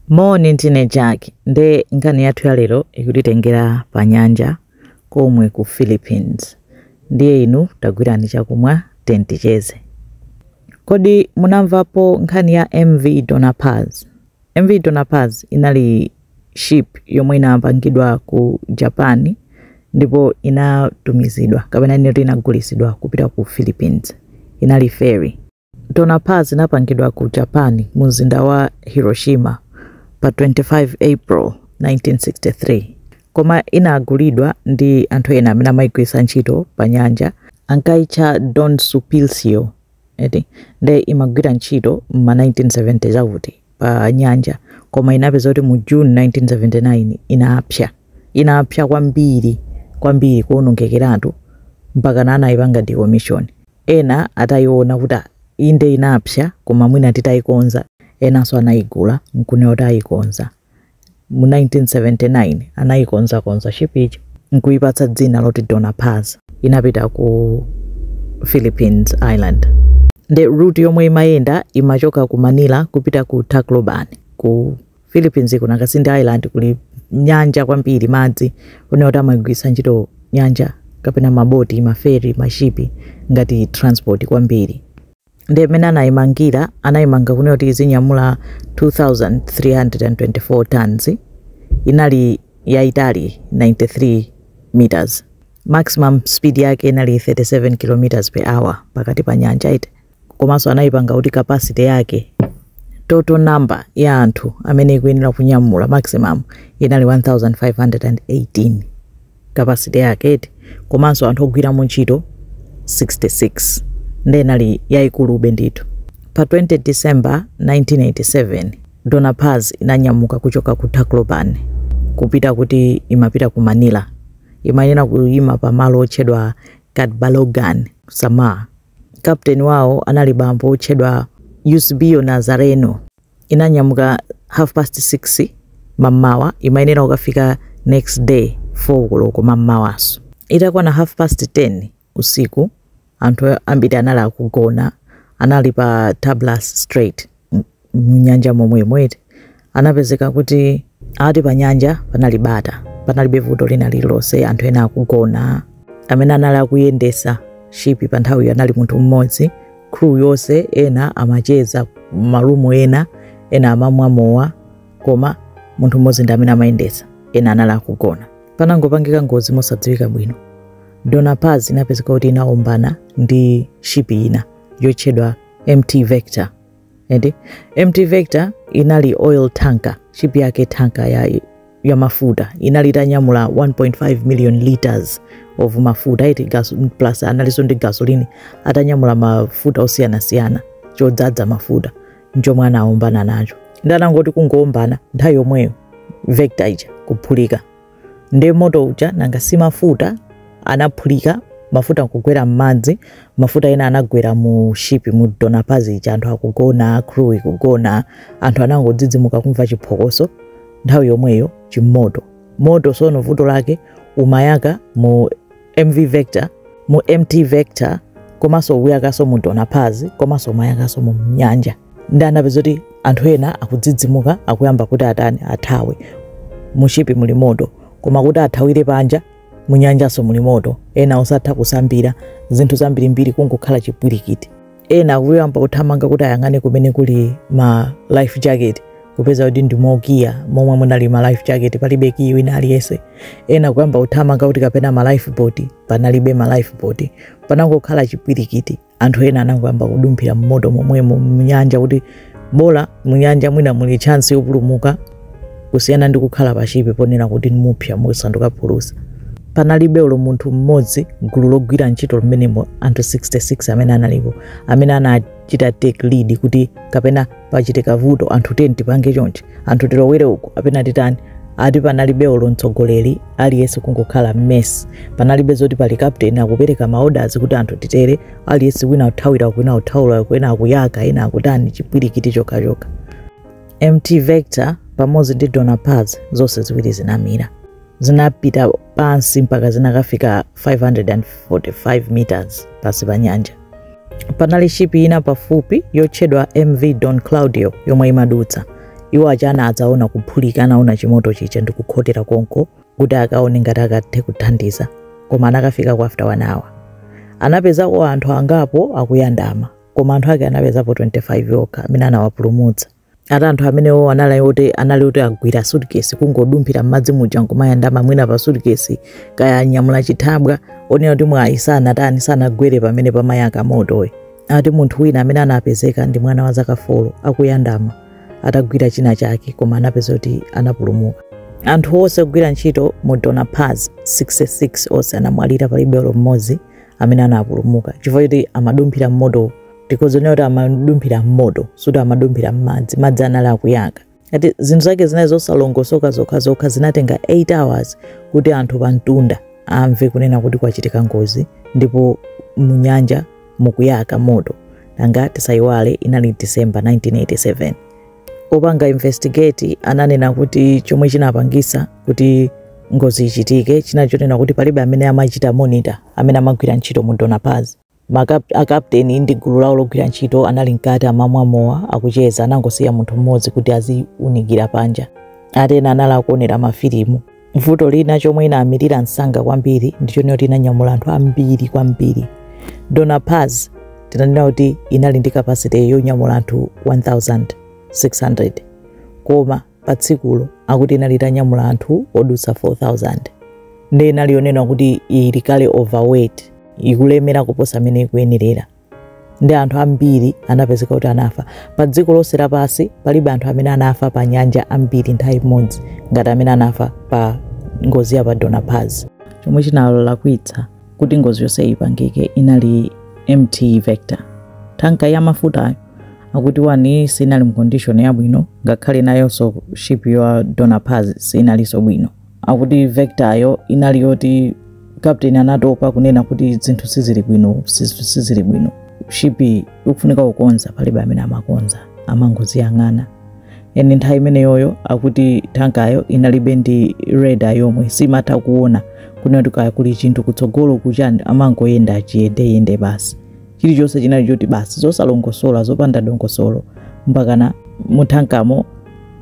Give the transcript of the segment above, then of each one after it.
Moni ndine Jack, nde nkhani yathu ya lero ikutitengera pa nyanja komwe ku Philippines ndiye inu tagwirani chakumwa then ticheze. Kodi munamvapo nkhani ya MV Dona Paz? MV Dona Paz inali ship yomwe inapangidwa ku Japan ndipo inatumizidwa kapena kunena kuti inagulitsidwa kupita ku Philippines inali ferry. Dona Paz inapangidwa ku Japan, mumzinda wa Hiroshima, pa 25 April, 1963. Koma inagulidwa ndi anthu ena amene amaigwiritsa ntchito panyanja. Ankaitcha Don Sulpicio, eti, nde imagwira ntchito m'ma 1970 chakuti panyanja. Koma inapeza kuti mu June 1979 inapsa. Inapsa kwambiri, kwambiri, kuwonongekeratu, mpakana anaipanga decommission. Ena ataiona kuti ah inde inapsa koma mwina titaikonza, enanso anaigula n'kunena kuti aikonza. Mu 1979 anaikonzakonza ship ija n'kuipatsa dzina loti Dona Paz. Inapita ku Philippines Island. Ndiye route yomwe imayenda imachoka ku Manila kupita ku Tacloban ku Philippines kunakhala kuti ndi island kuli nyanja kwambiri madzi kunena kuti amagwiritsa ntchito nyanja kapena maboti maferi mashipi ngati transport kwambiri nde mmene anayimangira anayimanga kunena kuti izinyamula 2324 tons inali yaitali 93 meters maximum speed yake inali 37 kilometers per hour pakati pa nyanja eti komanso anayipanga kuti capacity yake total number ya anthu amene ikuyenera kunyamula maximum inali 1518 capacity yake eti komanso anthu ogwiramo ntchito 66 nde inali yayikulube ndithu pa 20 december 1987 dona paz inanyamuka kuchoka ku tacloban kupita kuti imapita ku manila imayenera kuyima pa malo otchedwa catbalogan samar Kaputeni wawo anali bambo wotchedwa Eusebio Nazareno. Inanyamuka half past six mammawa imayenera kukafika next day four koloko mammawanso. Itakwana half past ten usiku anthu ambiri anali akugona, anali pa Tablas Strait. mnyanja momwemo eti anapezeka kuti ati pa nyanja panali bata panalibe vuto lina lililonse anthu ena akugona amene anali akuyendesa shipi pa nthawiyo anali munthu mmodzi crew yonse ena amacheza m'marumu ena ena amamwa mowa koma munthu mmodzi ndi amene amayendesa ena anali akugona panangopangika ngozi mosadziwika bwino dona paz inapezeka kuti inaombana ndi shipi ina yotchedwa mt vector ndi mt vector inali oil tanker ship yake tanker ya, ya mafuta inali itanyamula 1.5 million liters of mafuta eti gas, plus analinso ndi gasolini atanyamula mafuta osiyanasiyana chodzadza mafuta nchomwe anaombana nacho nde anangoti kungowombana nthawi yomweyo vector ija kuphulika nde moto uja nanga si mafuta anaphulika mafuta nkugwera m'madzi mafuta ena anagwera mu shipi mu dona paz ija anthu akugona crew ikugona anthu anangodzidzimuka kumva chiphokoso nthawi yomweyo chimoto moto sono vuto lake umayaka mu mv vector mu mt vector komanso umayakaso mu dona paz komanso umayakaso mu nyanja nde anapeza kuti anthu ena akudzidzimuka akuyamba kuti atani athawe mushipi muli moto koma kuti athawire panja munyanjanso muli moto ena osatha kusambira zinthu zambirimbiri kungokhala chipwirikiti ena akuyamba kuthamanga kuti ayang'ane kumene kuli ma life jacket kupeza kuti ndi mokiya momwe munali ma life jacket palibe kiyi wina aliyense ena kuyamba kuthamanga kuti kapena ma life boat panalibe ma life boat panangokhala chipwirikiti anthu ena anangoyamba kudumphira mmoto momwemo mnyanja kuti bola munyanja mwina muli chance yopulumuka kusiyana ndi kukhala pa shipi ponena kuti mupsa musanduka phulusa panalibe olo munthu mmodzi gulu logwira ntchito limenemo anthu 66 amene analipo amene anachita take lead kuti kapena pachitika vuto anthu tiyeni tipange chonchi anthu tilowere uku kapena titani ati panalibe olo mtsogoleri aliyense kungokhala mess panalibe zoti pali captain akupereka maodazi kuti anthu titere aliyense wina akuthawira kwina akuthawira kwina akuyaka ena akutani chipwirikiti chokhachokha mt vector pamodzi ndi dona paz zonse ziwiri zinamira zinapita pansi mpaka zinakafika 545 meters pansi pa nyanja panali shipi ina pafupi yotchedwa mv don claudio yomwe imadutsa iwo aja anadzaona kuphulika anaona chimoto chija ndikukhotera konko kuti akaone ngati akathe kuthandiza koma anakafikako after 1 hour anapezako anthu angapo akuyandama koma anthu ake anapezapo 25 okha amene anawapulumutsa ati anthu amenewo anali oti anali oti angogwira sutikesi kungodumphira m'madzi muja nkumayandama mwina pa sutikesi kaya anyamula chithabwa ponena kuti mwayi sanatani sanagwere pamene pamayaka motowo ati munthu wina amene anapezeka ndi mwana wa zaka folo akuyandama atagwira china chake koma anapeza kuti anapulumuka anthu onse ogwira ntchito mu dona paz 66 onse anamwalira palibe olo mmodzi amene anapulumuka chifukwa choti amadumphira mmoto tikuziwonera kuti amadumphira mmoto sikuti amadumphira mmadzi madzi anali akuyaka ati zinthu zake zinali zosalongosoka zokhazokha zinatenga 8 hours kuti anthu pamtunda amve kunena kuti kwachitika ngozi ndipo munyanja mukuyaka moto. Nanga tisaiwale inali December 1987. Opanga investigate ananena kuti chomwe chinapangisa kuti ngozi ichitike china chonena kuti palibe amene amachita monitor amene amagwira ntchito mu Dona Paz. Akapteni ndi gulu lawo logwira ntchito anali mkati amamwa mowa akucheza anangosiya munthu mmodzi kuti aziunikira panja. Ati ena anali akuonera mafilimu. vuto lina chomwe inamirira msanga kwambiri ndichonena kuti inanyamula anthu ambiri kwambiri dona paz tinanena kuti inali ndi capacity yonyamula anthu 1600 koma pa tsikulo akuti inali itanyamula anthu odutsa 4000 nde inali yonena kuti ili kale overweight ikulemera kuposa mmene ikuyenerera nde anthu ambiri anapezeka kuti anafa pa dziko lonse lapansi palibe anthu amene anafa pa nyanja ambiri nthawi imodzi ngati amene anafa pa ngozi ya pa dona paz chomwe chinalakwitsa kuti ngozi yonse ipangike inali mt vector tanka ya mafutayo akuti wani sinali mu condition yabwino ngakhale nayonso ship ya dona paz sinalinso bwino akuti vectoryo inali yoti captain anatopa kunena kuti zinthu sizili bwino siz- sizili bwino shipi ikufunika kukonza palibe amene amakonza amangoziyang'ana and nthawi imeneyoyo akuti tankayo inalibe ndi radar yomwe simatha kuona kunena kuti kaya kuli chinthu kutsogolo kuchani amangoyenda chiyendeyende basi chilichonse chinali choti basi zosalongosoka zopanda dongosolo mpakana muthankamo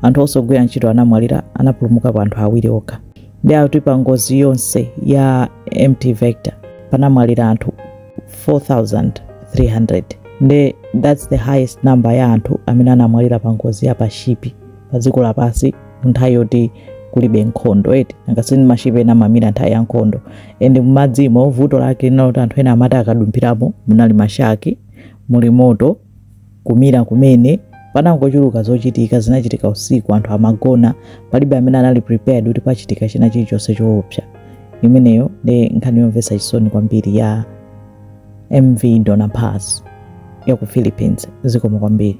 anthu onse ogwira ntchito anamwalira anapulumukapo anthu awiri okha nde akuti pa ngozi yonse ya mt vector panamwalira anthu 4300 nde thats the highest number ya anthu amene anamwalira pa ngozi ya pashipi pa dziko lapansi nthawi yoti kulibe nkhondo eti angasini mashipe ena amamira nthawi ya nkhondo and mmadzimo vuto lake linali loti anthu ena amati akadumphiramo munali mashaki muli moto kumira kumene panangochuluka zochitika zinachitika usiku anthu amagona palibe amene anali prepared kuti pachitika china chilichonse choopsa imeneyo ndi nkhani yomvetsa chisoni kwambiri ya mv dona paz ya ku philippines zikomo kwambiri